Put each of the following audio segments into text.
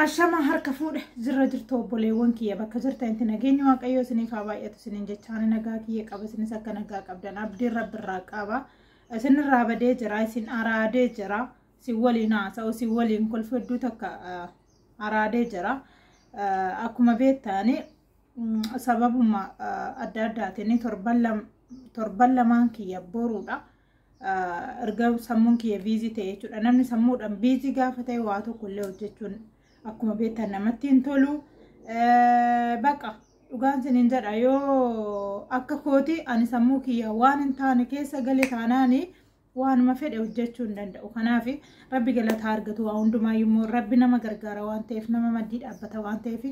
Ashama harka fuudhe jirra jirtu obboleewwan kiyya bakka jirtan itti nageenyi waaqayyoo isiniif haa baay'atu isiniin jechaan nagaa kiyya qaba isinis akka nagaa qabdan abdiin rabbirraa qaba isinirraa badee jira isin araadee jira si waliin haasa'u si waliin kolfi hedduu takka araadee jira akkuma beektaani sababuma adda addaatiin torban lamaan kiyya boruudha. erga sammuun kiyya biizii ta'e jechuudha. Namni sammuudhaan biizii gaafa ta'e waa tokko illee hojjechuun akkuma beektan namatti hin tolu. Baqa dhugaan siniin jedha yoo akka kooti ani sammuu kiyya waan hin taane keessa gale taanaani waanuma fedhe hojjechuu hin danda'u. Kanaaf rabbi galataa argatu waa hundumaa immoo rabbi nama gargaara waan ta'eef nama maddii dhaabbata waan ta'eef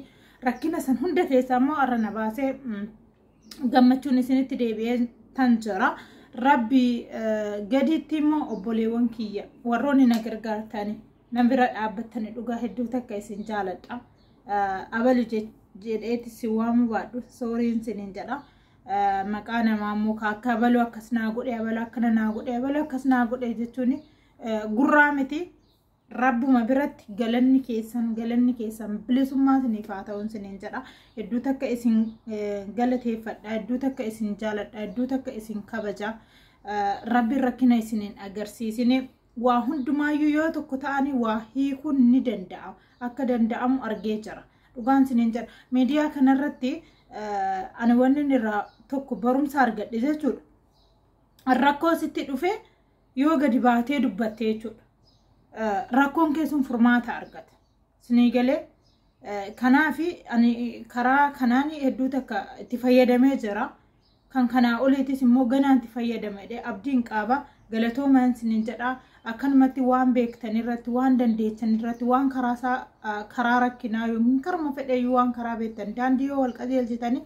rakkina san hunda keessaa immoo har'a na baasee gammachuun isinitti deebi'ee tan jira. Rabbi gadiitti immoo obboleewwan kiyya warroonni na gargaartani na bira dhaabbattani dhugaa hedduu takka isin jaaladha. Abalu jedheeti si waamuu baadhu sooriin isiniin jedha. Maqaa namaa immoo akka abalu akkas naa godhe abalu akkana naa godhe abalu akkas naa godhe jechuun gurraa miti. Rabbuma biratti galanni keessan galanni keessan bilisummaa isiniif haa ta'uun isiniin jedha. Hedduu takka isin galateeffadha. Hedduu takka isin jaaladha. Hedduu takka isin kabaja. Rabbiin rakkina isiniin agarsiisine waa hundumaayyuu yoo tokko ta'anii waa hiikuun ni danda'ama. Akka danda'amu argee jira. Dhugaan isiniin jedha. Miidiyaa kanarratti ani wanni irraa tokko barumsa argadhe jechuudha. Rakkoo sitti dhufee yoo gadi baatee dubbatte jechuudha. Rakkoon kee sun furmaata argata. Sinii galee kanaaf ani karaa kanaan hedduu takka itti fayyadamee jira. Kan kanaa oliitis immoo ganaan itti fayyadamedha. Abdiin qaaba galatoomaan sinin jedha. Akkanumatti waan beektan irratti, waan dandeettan irratti, waan karaasaa karaa rakkinaa yookiin karuma fedheeyyuu waan karaa beektan daandii yoo wal qajeelchitanii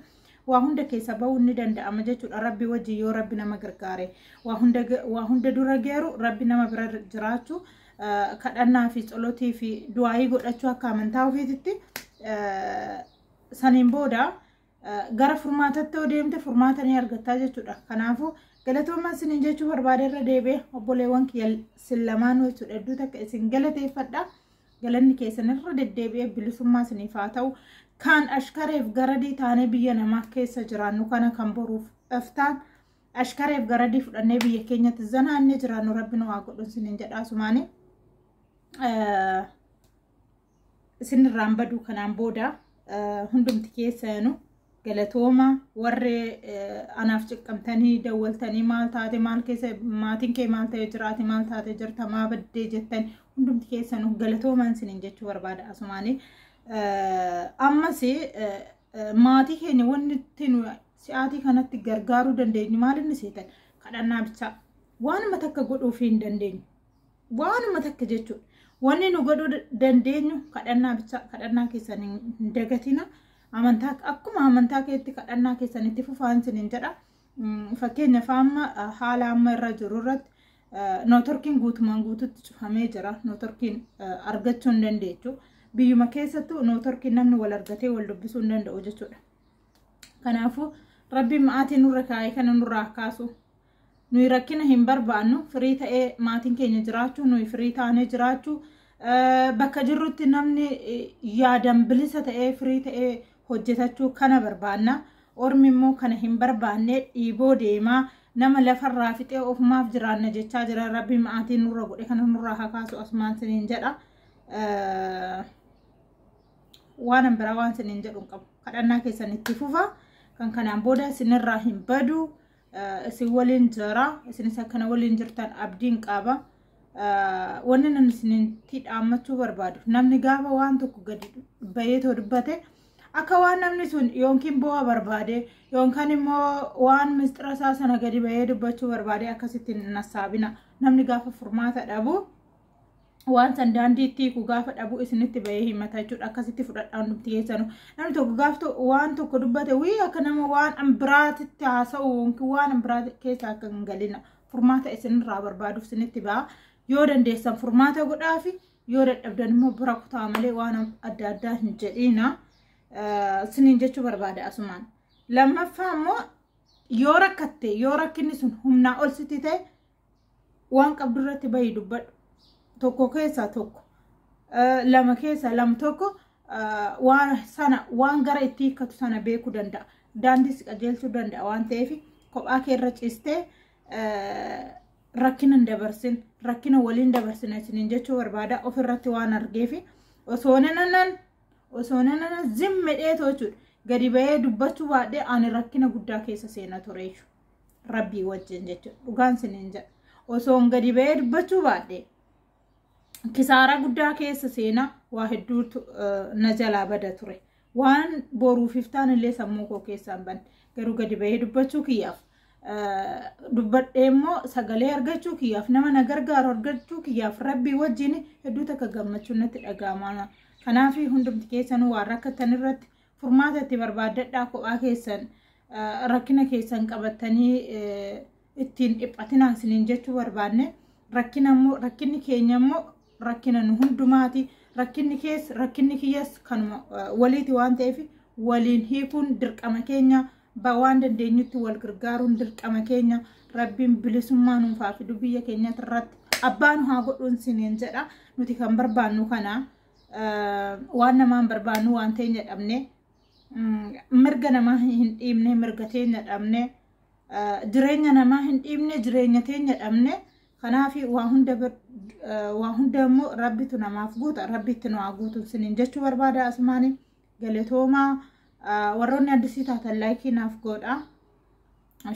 waa hunda keessa ba'uun ni danda'ama jechuudha rabbi wajjin yoo rabbi nama gargaare waa hunda waa hunda dura geeru rabbi nama bira jiraachuu eh, kadhannaa fi tsolotii fi du'aayii godhachuu akka amantaa ofiititti eh, saniin booda eh, gara furmaatatti yoo deemte furmaata ni argattaa jechuudha kanaafuu galatoomaa isiniin jechuu barbaade irra deebi'e obboleewwan kiyya sin lamaanuu jechuudha hedduu takka isin galateeffadha galanni keessan irra deddeebi'ee bilisummaa isiniif haa ta'u kan ashkareef garadii taanee biyya namaa keessa jiraannu kana kan boruuf iftaan ashkareef garadii fudhannee biyya keenyatti zanaannee jiraannu rabbi nu haa godhu isiniin jedhaa sumaanii isinirraan baduu kanaan booda hundumti keessanu galatooma warri anaaf ciqqamtanii dawwaltanii maal taate maal keessa maatiin kee maal ta'ee jiraate maal taate jirta maa baddee jettan hundumti keessanuu galatoomaan isiniin jechuu barbaada asumaanii ammas maatii keenya wanni ittiin si'aatii kanatti gargaaruu dandeenyu maal inni seetan kadhannaa bichaa waanuma takka godhuuf hin dandeenyu waanuma takka jechuudha wanni nu godhuu dandeenyu kadhannaa bichaa kadhannaa keessan hin dagatina. Amantaa akkuma amantaa keetti kadhannaa keessan itti fufaan isiniin jedha. Fakkeenyaaf amma haala amma irra jiru irratti nootorkiin guutumaan guututti cufamee jira. Nootorkiin argachuu hin dandeechu. Biyyuma keessattuu nootorkiin namni wal argatee wal dubbisuu hin danda'u jechuudha. Kanaafuu rabbiin ma'aatii nurra kaa'ee kana nurraa kaasu. Nuyi rakkina hin barbaannu firii ta'ee maatiin keenya jiraachuu nuyi firii taanee jiraachuu bakka jirrutti namni yaadan bilisa ta'ee firii ta'ee hojjetachuu kana barbaanna. Ormi immoo kana hin barbaanne dhiiboo deemaa nama lafarraa fixee ofumaaf jiraanna jechaa jira rabbi maatii nurra godhe kana nurraa hakaasu asumaan siniin jedha. Waanan biraa waan siniin jedhu hin qabu. Kadhannaa keessan itti fufa kan kanaan booda sinirraa hin badu. isin waliin jira isinis akkana waliin jirtan abdiin qaba wanni nan isinitti dhaammachuu barbaadu namni gaafa waan tokko gadi bahee too dubbate akka waan namni sun yookiin bu'a barbaade yookaan immoo waan misxira isaa sana gadi bahee dubbachuu barbaade akkasitti hin nassaabina namni gaafa furmaata dhabu waan san daandiitti hiiku gaafa dhabu isinitti bahee himata jechuudha akkasitti fudhadhaa hundumti keessanu namni tokko gaaf waan tokko dubbate wii akka nama waan biraatitti haasa'u yookiin waan biraa keessa akka hin galina furmaata isinirraa barbaaduuf isinitti ba'a yoo dandeessan furmaata godhaafi yoo dadhabdan immoo bira kutaa malee waan adda addaa hin jedhiina isiniin jechuu barbaada asumaan lammaffaa immoo yoo rakkatte yoo rakkinni sun humnaa ol sitti ta'e waan qabdu irratti bahi dubbadhu tokko keessaa tokko eh, lama keessaa lama tokko eh, waan sana waan gara itti hiikkatu sana beekuu danda'a daandii si qajeelchuu danda'a waan ta'eef kophaa kee irra ciistee eh, rakkina hin dabarsin rakkina waliin dabarsin isiniin jechuu barbaada ofirratti waan argeefi osoo nananan osoo nananan zim medhee toochuudha gadi bahee dubbachuu baadhee ani rakkina guddaa keessa seena ture jechuudha. rabbii wajjin jechuudha dhugaan siniin jedha osoon gadi ba'ee dubbachuu baadhe kisaaraa guddaa keessa seenaa waa hedduutu na jalaa bada ture waan boruuf iftaan illee sammuu koo keessaan ban garuu gadi ba'ee dubbachuu kiyyaaf dubbadhee immoo sagalee argachuu kiyyaaf nama na gargaaru argachuu kiyyaaf rabbii wajjin hedduu takka gammachuun natti dhaga'ama kanaaf hundumti keessanuu waan rakkatan irratti Furmaata itti barbaaddadhaa kophaa keessan rakkina keessan qabattanii ittiin dhiphatinaa isiniin jechuu barbaanne rakkina immoo rakkinni keenya immoo rakkina nu hundumaati rakkinni kees rakkinni kiyyas kanuma waliiti waan ta'eef waliin hiikuun dirqama keenya waan dandeenyutti wal gargaaruun dirqama keenya rabbiin bilisummaa nuuf haa fidu biyya keenyatti irratti abbaan haa godhuun isiniin jedha nuti kan barbaannu kana waan namaan barbaannu waan teenya dhabne mirga namaa hin dhiibne mirga teenya dhabne jireenya namaa hin dhiibne jireenya teenya dhabne kanaaf waa hunda waa hunda immoo rabbitu namaaf guuta rabbitti nu haa guutu sinin jechuu barbaada asumaani galatoomaa warroonni addisii taatan laayikii naaf godha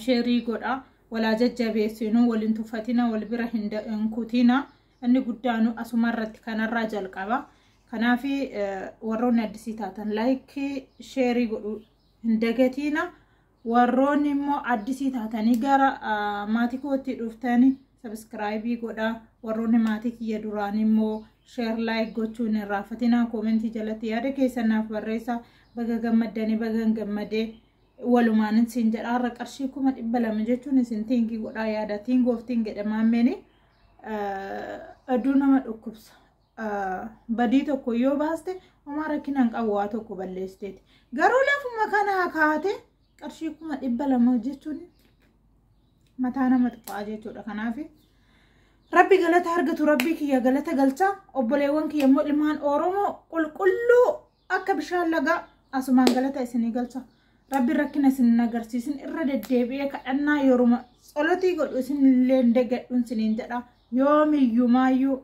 sheerii godha walaa jajjabeessinu waliin tuffatina wal bira hin kutina. Inni guddaanu asumarratti kanarraa jalqaba. Kanaaf warroonni addisii taatan laayikii sheerii godhuu hin dagatiina. Warroonni immoo addisii taatanii gara maatii kootti dhuftanii sabiskiraayibii godhaa. Warroonni maatii kiyya duraan immoo sheer laayik gochuu hin irraanfatinaa. Koomentii jalatti yaada keessan naaf barreessaa. Baga gammaddanii bagan gammadee walumaanin siin jedha. Har'a qarshii kuma dhibba lama jechuun isin tiingii godhaa yaada tiingoof tiingedha maammeenii. Aduu nama dhukkubsa. Badii tokko yoo baaste homaa rakkina hin qabu waa tokko balleessiteeti. Garuu lafuma kanaa kaate qarshii kuma dhibba lama jechuun mataa nama tuqaa jechuudha. Kanaaf rabbi galata argatu rabbii kiyya galata galcha obboleewwan kiyya immoo ilmaan Oromoo qulqulluu akka bishaan lagaa asumaan galata isinii galcha rabbi rakkina isin agarsiisin irra deddeebi'ee kadhannaa yeruma tsolotii godhu isin illee degadhuun isiniin jedha yoomiyyumaayyuu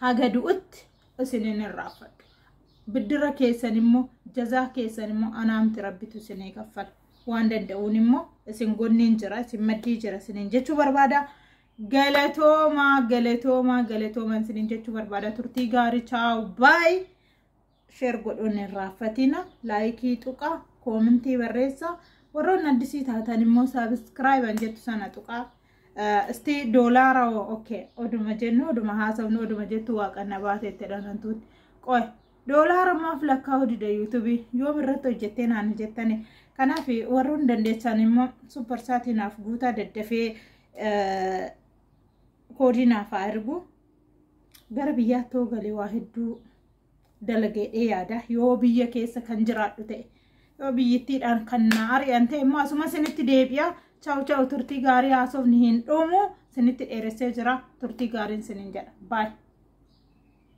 haga du'utti isiniin irraanfadhu biddira keessan immoo jazaa keessan immoo anaamti rabbitu isinii kaffala waan danda'uun immoo isin gonniin jira isin maddii jira isiniin jechuu barbaada Galatooma galatooma galatooman isinin jechuu barbaada turtii gaarii chaaw baay sheer godhuun hin raaffatina laayikii tuqa koomintii barreessa warroonni addisii taatan immoo saabiskiraayiban jettu sana tuqa isti doolaara oke oduma jennu oduma haasofnu oduma jettu waaqanna baate itti dhanantuun qoy doolaara maaf lakkaa'u dida yuutubii yoom irratti hojjettee naani jettani kanaaf warroonni dandeessan immoo supparsaatiinaaf guutaa daddafee koodii naaf haa ergu gara biyyaatti yoo galee waa hedduu dalageedhee yaada yoo biyya keessa kan jiraadhu ta'e yoo biyyittiidhaan kan na ari'an ta'e immoo asuma isinitti deebi'a chaa'u chaa'u turtii gaarii haasofni hin dhumu isinitti dheeressee jira turtii gaariin isinin jedha baay'ee.